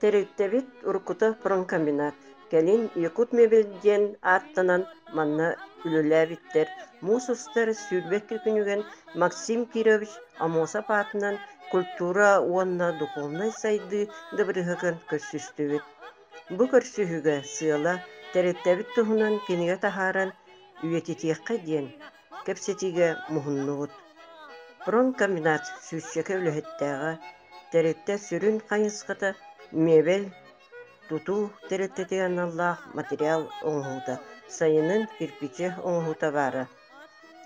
Тэрилтэбит уруккута промкомбинат, кэлин Якутмебель диэн ааттанан манна үлэлээбиттэр, муус устар сүүрбэккэ күнүгэн Максим Кирович Амосов аатынан культура уонна духовнай сайдыы дыбарыаһын көрсүстүбүт. Бу көрсүһүүгэ сыала, тэрилтэбит туһунан кинигэ таһааран үйэтитиэххэ диэн Кэпсэтиигэ муһуннубут. Пронкомбинат сүүсчэкэ үлэһиттээҕэ, тэрилтэ сүрүн хайысхата мебель тутуу тэрилтэтин аналлаах материал оҥоһуута сайынын кирпичи оҥоһуута баара.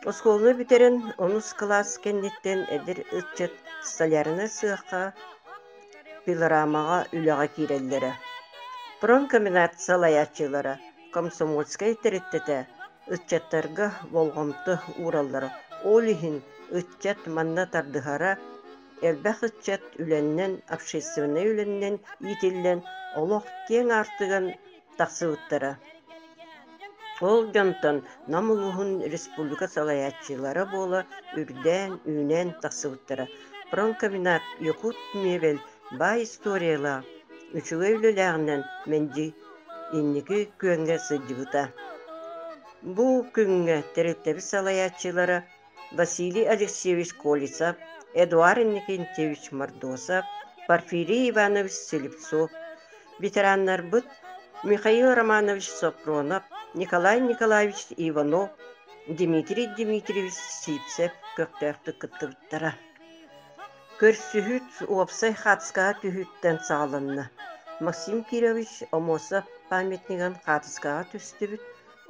Оскуола бүтэрэн онус кылаас кэнниттэн эдэр ыччат столярнай сыахха, пилорамаҕа үлэҕэ киирэллэрэ. Пронкомбинат салайааччылара комсомольскай тэрилтэтэ ыччаттарга болҕомто уураллара. Ол иһин ыччат манна тардыһара, элбэх ыччат үлэннэн, общественнай үлэннэн иитиллэн, олох киэҥ аартыган тахсыбыттара. Ол дьонтон Нам улууһун республика салайааччылара буола үрдээн, үүнэн тахсыбыттара. Промкомбинат Якут Мебель Баай историялаах, үчүгэй үлэлээҕинэн мэлдьи инники күөҥҥэ сылдьыбыта. Бу күҥҥэ тэрилтэбит салайааччылара Василий Алексеевич Колесов, Эдуард Иннокентьевич Мордосов, Порфирий Иванович Слепцов, ветераннарбыт Михаил Романович Сопронов, Николай Николаевич Иванов, Дмитрий Дмитриевич Сивцев көхтөөхтүк кыттыбыттара. Көрсүһүүт уопсай хаартыскаҕа түһүүттэн саҕаланна. Максим Кирович ОМОСО памятнигын хаартыскаҕа түстүбүт,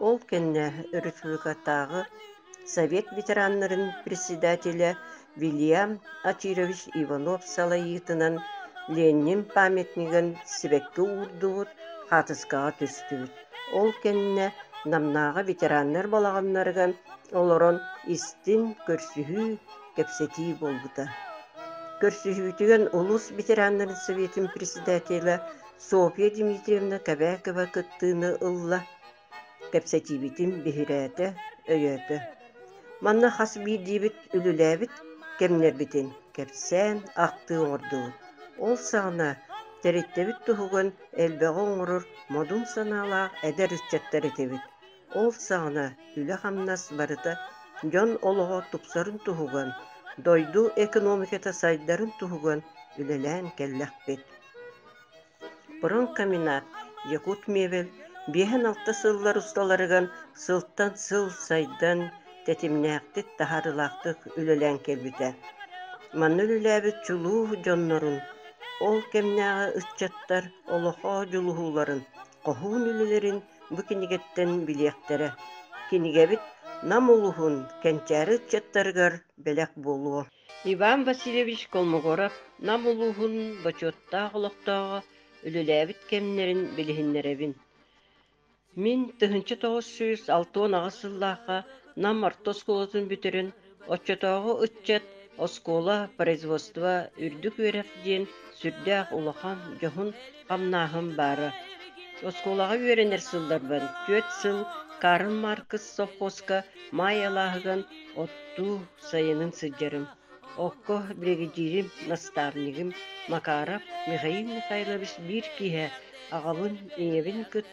ол кэннэ республикатааҕы Совет ветераннарын председателэ Вильям Очирович Иванов салайыытынан Ленин памятнигын сибэкки уурдубут, хаартыскаҕа түстүбүт. Ол кэннэ Намнааҕы ветераннар балаҕаннарыгар олорон истин, көрсүһүү кэпсэтии буолбута. Көрсүһүүтүгэн улуус ветераннарын Советын председателэ Софья Дмитриевна Кэбээкова кыттыыны ылла. Кэпсэтиибитин биһирээтэ, өйөөтө. Манна хас биирдиибит үлэлээбит кэмнэрбитин кэпсээн, ахтыы оҥордубут. Ол саҕана тэрилтэбит туһуган элбэҕи оҥорор модун санаалаах эдэр ыччаттар этибит. Ол саҕана үлэ-хамнас барыта дьон олоҕо тупсарын туһуган, дойду экономиката сайдарын туһуган үлэлээн кэллэхпит. Пронкомбинат Якутмебель биэһэн-алта сыллар усталарыган сылтан сыл сайдан, тэтимнээхтик, таһаарылаахтык үлэлээн кэлбитэ. Манна үлэлээбит чулуу дьоннорун, ол кэмнээҕи ыччаттар олохо дьулуһууларын хоһуун үлэлэрин бу кинигэттэн билиэхтэрэ, кинигэбит Нам улуһун кэнчээри ыччаттарыгар бэлэх буолуо. Иван Васильевич Колмогоров Нам улууһун бочуоттаах олохтооҕо үлэлээбит кэмнэрин билиһиннэрэбин. Мин тыһыынча тоҕус сүүс алта уон аҕыс сыллаахха Нам орто оскуолатын бүтэрин Оччотооҕу ыччат оскуола, производство, үрдүк үөрэх диэн сүрдээх улахан, дьоһун хамнааһын баара. Оскуолаҕа үөрэнэр сылларбын түөрт сыл Карл Маркс совхозка Маай алааһыган оттуу сайынын сылдьарым. Окко биригэдьиирим, наставнигым Макаров Михаил Михайлович биир киэһэ аҕабын ийэбин кытта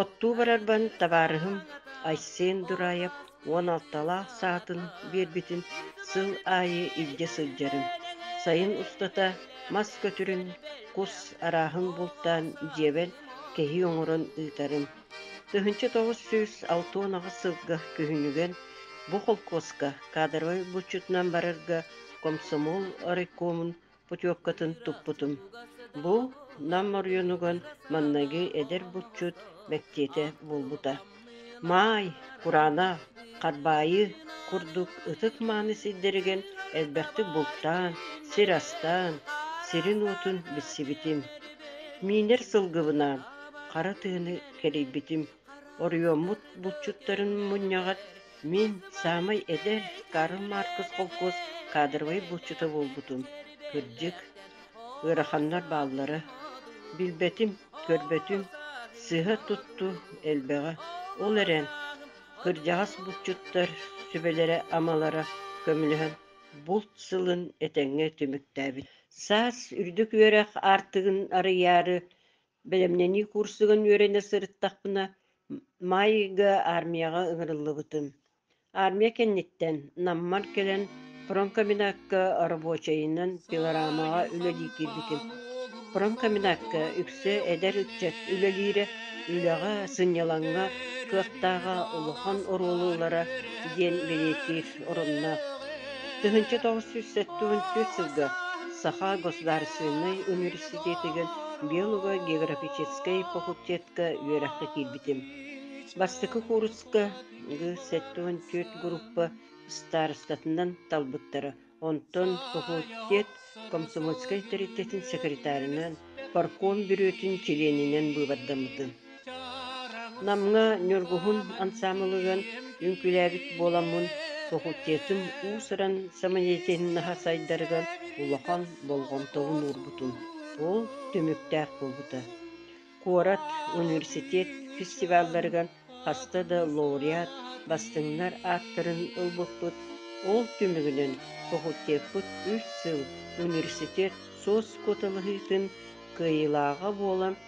Оттуу барарбын табаарыһым Айсен Дураев уон алталаах саатын биэрбитин сыл аайы илдьэ сылдьарым, сайын устата мас көтүрүн, кус арааһын бултаан дьиэбэр кэһии оҥорон ыытарым. Тыһыынча тоҕус сүүс алта уон аҕыс сылга күһүнүгэр бу холкуоска кадровай булчутунан барарга комсомол райкомун путевкатын туппутум. Бу Нам оройуонугар манныгы эдэр булчут мэктиэтэ буолбута. Маай, кураана, харбаайы курдук ытык мааны сирдэригэн элбэхтик бултаан, сир астаан, сирин-уотун билсибитим. Миинэр сылгыбынаан, хара тыыны кэрийбитим. Оройуоммут булчуттарын мунньаҕар мин саамай эдэр Карл Маркус холкуос кадровай булчута буолбутум, кырдьык, ыараханнар бааллара, билбэтим-көрбөтүм, сыһа-тутту элбэҕэ, ол эрэн кырдьаҕас булчуттар сүбэлэрэ-амалара көмөлөһөн булт сылын этэҥҥэ түмүктээбит. Саас үрдүк үөрэх аартыгын арыйаары Бэлэмнэнии куурсугун үөрэнэ сырыттахпына, Майга армияҕа ыҥырыллыбытым. Армия кэнниттэн Наммар кэлэн промкомбинатка рабочайынан пилорамаҕа үлэлии киирбитим. Промкомбинатка үксэ эдэр ыччат үлэлиирэ, үлэҕэ, сынньалаҥҥа кыахтааҕа улахан оруолу ылара диэн бэлиэтиир оронноох. тысяча тоҕус сүүс сэттис сылга Саха государственнай университет университетигэр биолого-географическай факультетка үөрэххэ киирбитим. Бастакы кууруска Г-74 группа старостатынан талбыттара, онтон факультет комсомольскай тэрилтэтин секретарынан, парком бүрүөтүн чилиэнинэн быыбардаммытым. Намҥа Ньургуһун ансаамылыгын үҥкүүлээбит буоламмын, факультетым уус-уран самодеятельноһа сайдарыгар улахан болҕомтобун уурбутум. Ол түмүктээх буолбута. Куорат, университет фестивалларыгар хаста да лауреат, бастыҥнар ааттарын ылбыппыт. Ол түмүгүнэн факультеппыт үс сыл университет соцкуоталаһыытын кыайыылааҕа буолан,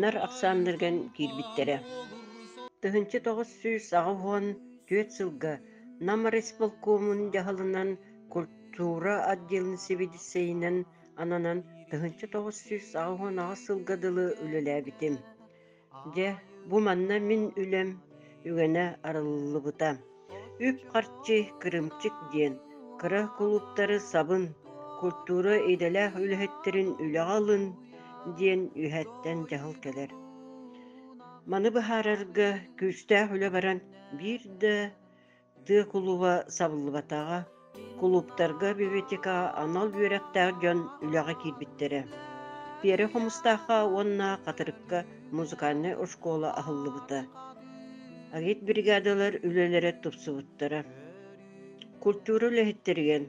Нар ахсааннарыган киирбиттэрэ тыһыынча тоҕус сүүс аҕыс уон түөрт сылга Нам райисполкомун дьаһалынан культура отделын сэбиэдиссэйинэн ананан тыһыынча тоҕус сүүс аҕыс уон аҕыс сылга дылы үлэлээбитим. Дьэ, бу манна мин үлэм үгэнэ арыллыбыта Үп-харчы кырыымчык диэн кыра кулууптары сабын, культура идэлээх үлэһиттэрин үлэҕэ ылын диэн үөһэттэн дьаһал кэлэр. Маны быһаарарга күүстээх үлэ баран биир да тыа кулуба сабыллыбатаҕа Кулууптарга библиотекаҕа анал үөрэхтээх дьон үлэҕэ киирбиттэрэ. Перу Хомустаахха уонна Хатырыкка музыкальнай оскуола аһыллыбыта. Агитбригадалар үлэлэрэ тупсубуттара. Культура үлэһиттэригэн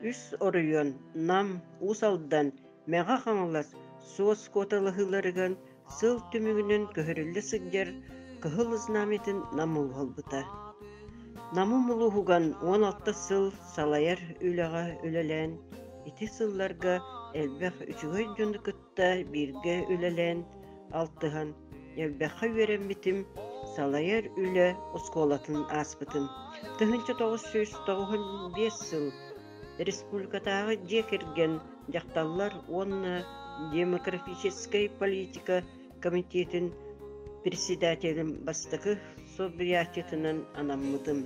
үс оройуон, Нам, Уус Алдан, Мэҥэ Хаҥалас, Суос куоталаһыыларыган Сыл түмүгүнэн көһөрүллэ сылдьар Кыһыл Знамятын Намы ылбыта. Намы мулуһуган уон алта сыл салайар үлэҕэ үлэлээн, ити сылларга элбэх үчүгэй дьону кытта бииргэ үлэлээн, алтыһан, элбэххэ үөрэммитим, салайар үлэ оскуолатын ааспытым. Тыһыынча тоҕус сүүс тоҕуһун биэс сыл Республикатааҕы дьиэ кэргэн, дьахталлар уонна демографическай политика комитетин председателин бастакы солбуйааччытынан анаммытым.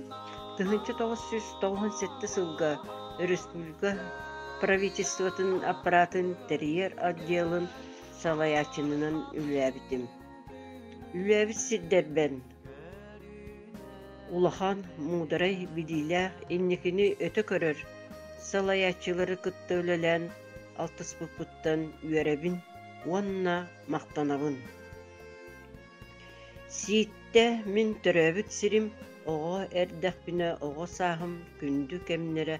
1998 сылга өрөспүүбүлүкэ правительствотын аппаратын тэрийэр отделын салайааччынынан үлэлээбитим. Үлэбит сирдэрбэн Улахан, муударай билиилээх инникини өтө көрөр, салайааччылары кытта үлэлээн алтыспыппыттан үөрэбин уонна махтанабын. Сииттэ мин төрөөбүт сирим оҕо эрдэхпинэ оҕо сааһым күндү кэмнэрэ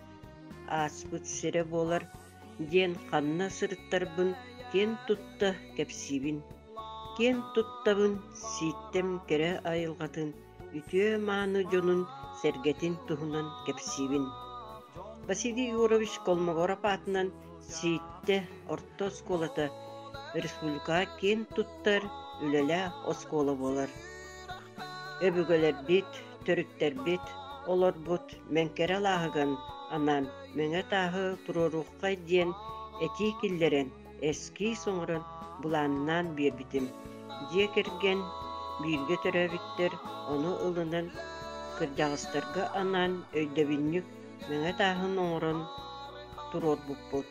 ааспыт сирэ буолар диэн ханна сырыттарбын киэн тутта кэпсиибин. Киэн туттабын, сииттэн кэрэ айылҕатын, үтүө мааны дьонун, сэргэтин туһунан кэпсиибин. Василий Егорович Колмогоров аатынан Сииттэ орто оскуолата республика киэн туттар үлэлээх оскуола буолар. Өбүгэлэрбит төрүттэрбит, олорбут Мэҥкэрэ алааһыгын анаан Мэҥэ тааһы туруоруоххай диэн этии киллэрэн эскиис оҥорон былааннаан биэрбитим. Дьиэ кэргэн бииргэ төрөөбүттэр ону ылынан кырдьаҕастарга анаан өйдөбүнньүк Мэҥэ тааһын оҥорон туруорбуппут